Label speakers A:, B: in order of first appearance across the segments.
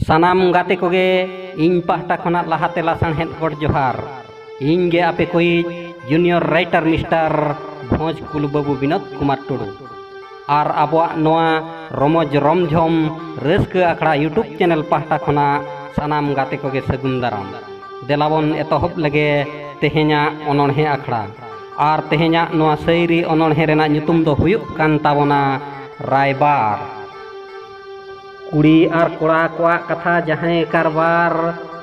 A: ᱥᱟᱱᱟᱢ ᱜᱟᱛᱮ ᱠᱚᱜᱮ ᱤᱧ ᱯᱟᱦᱴᱟ ᱠᱷᱚᱱᱟᱜ ᱞᱟᱦᱟᱛᱮ ᱞᱟᱥᱟᱬᱦᱮᱫ ᱜᱚᱰ ᱡᱚᱦᱟᱨ ᱤᱧ ᱜᱮ ᱟᱯᱮ ᱠᱚᱭᱤᱡ ᱡᱩᱱᱤᱭᱚᱨ ᱨᱟᱭᱴᱟᱨ ᱢᱤᱥᱴᱟᱨ ᱵᱷᱚᱸᱡᱽ ᱠᱩᱞ ᱵᱟᱹᱵᱩ ᱵᱤᱱᱳᱫ ᱠᱩᱢᱟᱨ ᱴᱩᱰᱩ ᱟᱨ ᱟᱵᱚᱣᱟᱜ ᱱᱚᱣᱟ ᱨᱚᱢᱚᱡᱽ ᱨᱚᱢᱡᱷᱚᱢ ᱨᱟᱹᱥᱠᱟᱹ ᱟᱠᱷᱲᱟ ᱤᱭᱩᱴᱩᱵᱽ ᱪᱮᱱᱮᱞ ᱯᱟᱦᱴᱟ ᱠᱷᱚᱱᱟᱜ ᱥᱟᱱᱟᱢ ᱜᱟᱛᱮ ᱠᱚᱜᱮ ᱥᱟᱹᱜᱩᱱ ᱫᱟᱨᱟᱢ ᱫᱮᱞᱟᱵᱚᱱ ᱮᱛᱚᱦᱚᱵ ᱞᱮᱜᱮ ᱛᱮᱦᱮᱧᱟᱜ ᱚᱱᱚᱬᱦᱮ ᱟᱠᱷᱲᱟ ᱟᱨ ᱛᱮᱦᱮᱧᱟᱜ ᱱᱚᱣᱟ ᱥᱟᱹᱭᱨᱤ ᱚᱱᱚᱬᱦᱮ ᱨᱮᱱᱟᱜ ᱧᱩᱛᱩᱢ ᱫᱚ ᱦᱩᱭᱩᱜ ᱠᱟᱱ ᱛᱟᱵᱚᱱᱟ ᱨᱟᱭᱵᱟᱨ ᱠᱩᱲᱤ ᱟᱨ ᱠᱚᱲᱟ ᱠᱚᱣᱟᱜ ᱠᱟᱛᱷᱟ ᱡᱟᱦᱟᱸᱭ ᱠᱟᱨᱵᱟᱨ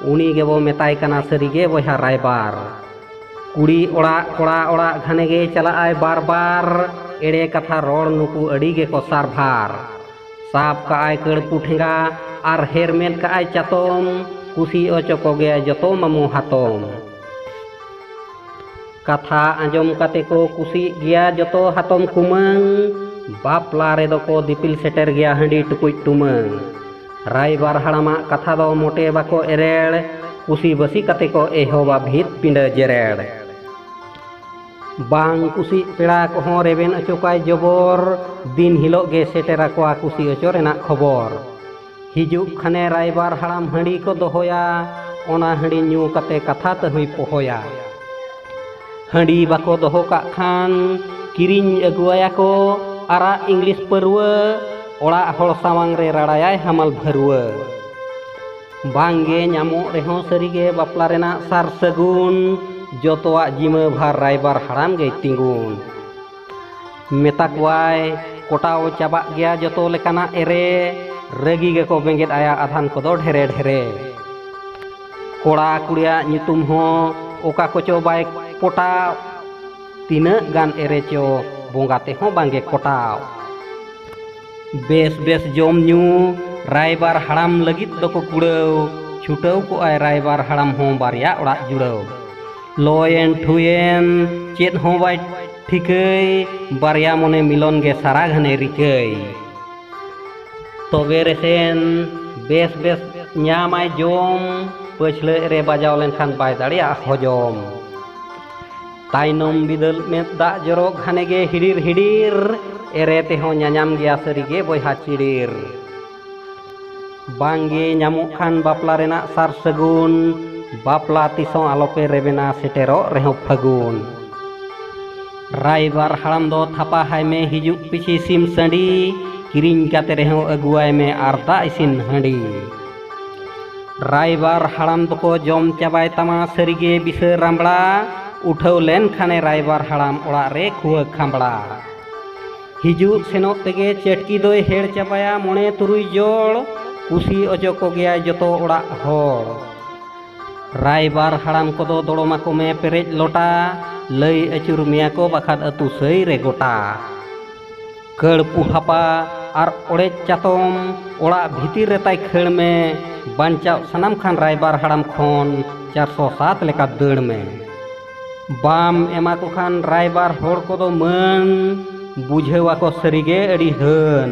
A: ᱩᱱᱤ ᱜᱮᱵᱚ ᱢᱮᱛᱟᱭ ᱠᱟᱱᱟ ᱥᱟᱹᱨᱤᱜᱮ ᱵᱚᱭᱦᱟ ᱨᱟᱭᱵᱟᱨ ᱠᱩᱲᱤ ᱚᱲᱟᱜ ᱠᱚᱲᱟ ᱚᱲᱟᱜ ᱜᱷᱟᱱᱮ ᱜᱮ ᱪᱟᱞᱟᱜ ᱟᱭ ᱵᱟᱨ ᱵᱟᱨ ᱮᱲᱮ ᱠᱟᱛᱷᱟ ᱨᱚᱲ ᱱᱩᱠᱩ ᱟᱹᱰᱤ ᱜᱮᱠᱚ ᱥᱟᱨᱵᱷᱟᱨ ᱥᱟᱵ ᱠᱟᱜ ᱟᱭ ᱠᱟᱹᱲᱯᱩ ᱴᱷᱮᱸᱜᱟ ᱟᱨ ᱦᱮᱨᱢᱮᱫ ᱠᱟᱜ ᱟᱭ ᱪᱟᱛᱚᱢ ᱠᱩᱥᱤ ᱚᱪᱚ ᱠᱚᱜᱮᱭᱟ ᱡᱚᱛᱚ ᱢᱟᱢᱩ ᱦᱟᱛᱚᱢ ᱠᱟᱛᱷᱟ ᱟᱸᱡᱚᱢ ᱠᱟᱛᱮ ᱠᱚ ᱠᱩᱥᱤᱜ ᱜᱮᱭᱟ ᱡᱚᱛᱚ ᱦᱟᱛᱚᱢ ᱠᱩᱢᱟᱹᱝ ᱵᱟᱯᱞᱟ ᱨᱮᱫᱚ ᱠᱚ ᱫᱤᱯᱤᱞ ᱥᱮᱴᱮᱨ ᱜᱮᱭᱟ ᱦᱟᱺᱰᱤ ᱴᱩᱠᱩᱡ ᱴᱩᱢᱟᱹᱝ ᱨᱟᱭᱵᱟᱨ ᱦᱟᱲᱟᱢᱟᱜ ᱠᱟᱛᱷᱟ ᱫᱚ ᱢᱚᱴᱮ ᱵᱟᱠᱚ ᱮᱨᱮᱲ ᱠᱩᱥᱤ ᱵᱟᱹᱥᱤ ᱠᱟᱛᱮ ᱠᱚ ᱮᱦᱚᱵᱟ ᱵᱷᱤᱛ ᱯᱤᱸᱰᱟᱹ ᱡᱮᱨᱮᱲ ᱵᱟᱝ ᱠᱩᱥᱤᱜ ᱯᱮᱲᱟ ᱠᱚᱦᱚᱸ ᱨᱮᱵᱮᱱ ᱚᱪᱚ ᱠᱚᱣᱟᱭ ᱡᱚᱵᱚᱨ ᱫᱤᱱ ᱦᱤᱞᱳᱜ ᱜᱮ ᱥᱮᱴᱮᱨ ᱟᱠᱚᱣᱟ ᱠᱩᱥᱤ ᱚᱪᱚ ᱨᱮᱱᱟᱜ ᱠᱷᱚᱵᱚᱨ ᱦᱤᱡᱩᱜ ᱠᱷᱟᱱᱮ ᱨᱟᱭᱵᱟᱨ ᱦᱟᱲᱟᱢ ᱦᱟᱺᱰᱤ ᱠᱚ ᱫᱚᱦᱚᱭᱟ ᱚᱱᱟ ᱦᱟᱺᱰᱤ ᱧᱩ ᱠᱟᱛᱮ ᱠᱟᱛᱷᱟ ᱛᱟᱹᱦᱩᱭ ᱯᱚᱦᱚᱭᱟ ᱦᱟᱺᱰᱤ ᱵᱟᱠᱚ ᱫᱚᱦᱚ ᱠᱟᱜ ᱠᱷᱟᱱ ᱠᱤᱨᱤᱧ ᱟᱹᱜᱩᱣᱟᱭᱟ ᱠᱚ ᱟᱨᱟᱜ ᱤᱝᱞᱤᱥ ᱯᱟᱹᱨᱣᱟᱹ ᱚᱲᱟᱜ ᱦᱚᱲ ᱥᱟᱢᱟᱝ ᱨᱮ ᱨᱟᱲᱟᱭᱟᱭ ᱦᱟᱢᱟᱞ ᱵᱷᱟᱹᱨᱣᱟᱹ ᱵᱟᱝᱜᱮ ᱧᱟᱢᱚᱜ ᱨᱮᱦᱚᱸ ᱥᱟᱹᱨᱤᱜᱮ ᱵᱟᱯᱞᱟ ᱨᱮᱱᱟᱜ ᱥᱟᱨ ᱥᱟᱹᱜᱩᱱ ᱡᱚᱛᱚᱣᱟᱜ ᱡᱤᱢᱟᱹ ᱵᱷᱟᱨ ᱨᱟᱭᱵᱟᱨ ᱦᱟᱲᱟᱢ ᱜᱮᱭ ᱛᱤᱸᱜᱩᱱ ᱢᱮᱛᱟ ᱠᱚᱣᱟᱭ ᱠᱚᱴᱟᱣ ᱪᱟᱵᱟᱜ ᱜᱮᱭᱟ ᱡᱚᱛᱚ ᱞᱮᱠᱟᱱᱟᱜ ᱮᱨᱮ ᱨᱟᱹᱜᱤ ᱜᱮᱠᱚ ᱵᱮᱸᱜᱮᱫ ᱟᱭᱟ ᱟᱫᱷᱟᱱ ᱠᱚᱫᱚ ᱰᱷᱮᱨᱮ ᱰᱷᱮᱨᱮ ᱠᱚᱲᱟ ᱠᱩᱲᱤᱭᱟᱜ ᱧᱩᱛᱩᱢ ᱦᱚᱸ ᱚᱠᱟ ᱠᱚᱪᱚ ᱵᱟᱭ ᱯᱚᱴᱟᱣ ᱛᱤᱱᱟᱹᱜ ᱜᱟᱱ ᱮᱨᱮ ᱪᱚ ᱵᱚᱸᱜᱟ ᱛᱮᱦᱚᱸ ᱵᱟᱝᱜᱮ ᱠᱚᱴᱟᱣ ᱵᱮᱥ ᱵᱮᱥ ᱡᱚᱢ ᱧᱩ ᱨᱟᱭᱵᱟᱨ ᱦᱟᱲᱟᱢ ᱞᱟᱹᱜᱤᱫ ᱫᱚᱠᱚ ᱠᱩᱲᱟᱹᱣ ᱪᱷᱩᱴᱟᱹᱣ ᱠᱚᱜᱼᱟᱭ ᱨᱟᱭᱵᱟᱨ ᱦᱟᱲᱟᱢ ᱦᱚᱸ ᱵᱟᱨᱭᱟ ᱚᱲᱟᱜ ᱡᱩᱲᱟᱹᱣ ᱞᱚᱭᱮᱱ ᱴᱷᱩᱭᱮᱱ ᱪᱮᱫ ᱦᱚᱸ ᱵᱟᱭ ᱴᱷᱤᱠᱟᱹᱭ ᱵᱟᱨᱭᱟ ᱢᱚᱱᱮ ᱢᱤᱞᱚᱱ ᱜᱮ ᱥᱟᱨᱟ ᱜᱷᱟᱱᱮ ᱨᱤᱠᱟᱹᱭ ᱛᱚᱵᱮ ᱨᱮᱥᱮᱱ ᱵᱮᱥ ᱵᱮᱥ ᱧᱟᱢᱟᱭ ᱡᱚᱢ ᱯᱟᱹᱪᱷᱞᱟᱹ ᱨᱮ ᱵᱟᱡᱟᱣ ᱞᱮᱱᱠᱷᱟᱱ ᱵᱟᱭ ᱫᱟᱲᱮᱭᱟᱜᱼᱟ ᱦᱚᱡᱚᱢ ᱛᱟᱭᱱᱚᱢ ᱵᱤᱫᱟᱹᱞ ᱢᱮᱫ ᱫᱟᱜ ᱡᱚᱨᱚ ᱜᱷᱟᱱᱮ ᱜᱮ ᱦᱤᱰᱤᱨ ᱦᱤᱰᱤᱨ ᱮᱨᱮ ᱛᱮᱦᱚᱸ ᱧᱟᱧᱟᱢ ᱜᱮᱭᱟ ᱥᱟᱹᱨᱤᱜᱮ ᱵᱚᱭᱦᱟ ᱪᱤᱲᱤᱨ ᱵᱟᱝᱜᱮ ᱧᱟᱢᱚᱜ ᱠᱷᱟᱱ ᱵᱟᱯᱞᱟ ᱨᱮᱱᱟᱜ ᱥᱟᱨ ᱥᱟᱹᱜᱩᱱ ᱵᱟᱯᱞᱟ ᱛᱤᱥᱚᱸ ᱟᱞᱚᱯᱮ ᱨᱮᱵᱮᱱᱟ ᱥᱮᱴᱮᱨᱚᱜ ᱨᱮᱦᱚᱸ ᱯᱷᱟᱹᱜᱩᱱ ᱨᱟᱭᱵᱟᱨ ᱦᱟᱲᱟᱢ ᱫᱚ ᱛᱷᱟᱯᱟ ᱦᱟᱭ ᱢᱮ ᱦᱤᱡᱩᱜ ᱯᱤᱪᱷᱤ ᱥᱤᱢ ᱥᱟᱺᱰᱤ ᱠᱤᱨᱤᱧ ᱠᱟᱛᱮ ᱨᱮᱦᱚᱸ ᱟᱹᱜᱩᱣᱟᱭ ᱢᱮ ᱟᱨ ᱫᱟᱜ ᱤᱥᱤᱱ ᱦᱟᱺᱰᱤ ᱨᱟᱭᱵᱟᱨ ᱦᱟᱲᱟᱢ ᱫᱚᱠᱚ ᱡᱚᱢ ᱪᱟᱵᱟᱭ ᱛᱟᱢᱟ ᱥᱟᱹᱨᱤᱜᱮ ᱵᱤᱥᱟᱹ ᱨᱟᱢᱵᱽᱲᱟ ᱩᱴᱷᱟᱹᱣ ᱞᱮᱱ ᱠᱷᱟᱱᱮ ᱨᱟᱭᱵᱟᱨ ᱦᱟᱲᱟᱢ ᱚᱲᱟᱜ ᱨᱮ ᱠᱷᱩᱣᱟᱹ ᱠᱷᱟᱢᱵᱽᱲᱟ ᱦᱤᱡᱩᱜ ᱥᱮᱱᱚᱜ ᱛᱮᱜᱮ ᱪᱟᱹᱴᱠᱤ ᱫᱚᱭ ᱦᱮᱲ ᱪᱟᱵᱟᱭᱟ ᱢᱚᱬᱮ ᱛᱩᱨᱩᱭ ᱡᱚᱲ ᱠᱩᱥᱤ ᱚᱪᱚ ᱠᱚᱜᱮᱭᱟᱭ ᱡᱚᱛᱚ ᱚᱲᱟᱜ ᱦᱚᱲ ᱨᱟᱭᱵᱟᱨ ᱦᱟᱲᱟᱢ ᱠᱚᱫᱚ ᱫᱚᱲᱚᱢᱟᱠᱚ ᱢᱮ ᱯᱮᱨᱮᱡ ᱞᱚᱴᱟ ᱞᱟᱹᱭ ᱟᱹᱪᱩᱨ ᱢᱮᱭᱟ ᱠᱚ ᱵᱟᱠᱷᱟᱱ ᱟᱹᱛᱩ ᱥᱟᱹᱭ ᱨᱮ ᱜᱚᱴᱟ ᱠᱟᱹᱲᱯᱩ ᱦᱟᱯᱟ ᱟᱨ ᱚᱲᱮᱡ ᱪᱟᱛᱚᱢ ᱚᱲᱟᱜ ᱵᱷᱤᱛᱤᱨ ᱨᱮ ᱛᱟᱭ ᱠᱷᱟᱹᱲ ᱢᱮ ᱵᱟᱧᱪᱟᱣ ᱥᱟᱱᱟᱢ ᱠᱷᱟᱱ ᱨᱟᱭᱵᱟᱨ ᱦᱟᱲᱟᱢ ᱠᱷᱚᱱ ᱪᱟᱨᱥᱚ ᱥᱟᱛ ᱞᱮᱠᱟ ᱫᱟᱹᱲ ᱢᱮ ᱵᱟᱢ ᱮᱢᱟ ᱠᱚ ᱠᱷᱟᱱ ᱨᱟᱭᱵᱟᱨ ᱦᱚᱲ ᱠᱚᱫᱚ ᱢᱟᱹᱱ ᱵᱩᱡᱷᱟᱹᱣ ᱟᱠᱚ ᱥᱟᱹᱨᱤᱜᱮ ᱟᱹᱰᱤ ᱦᱟᱹᱱ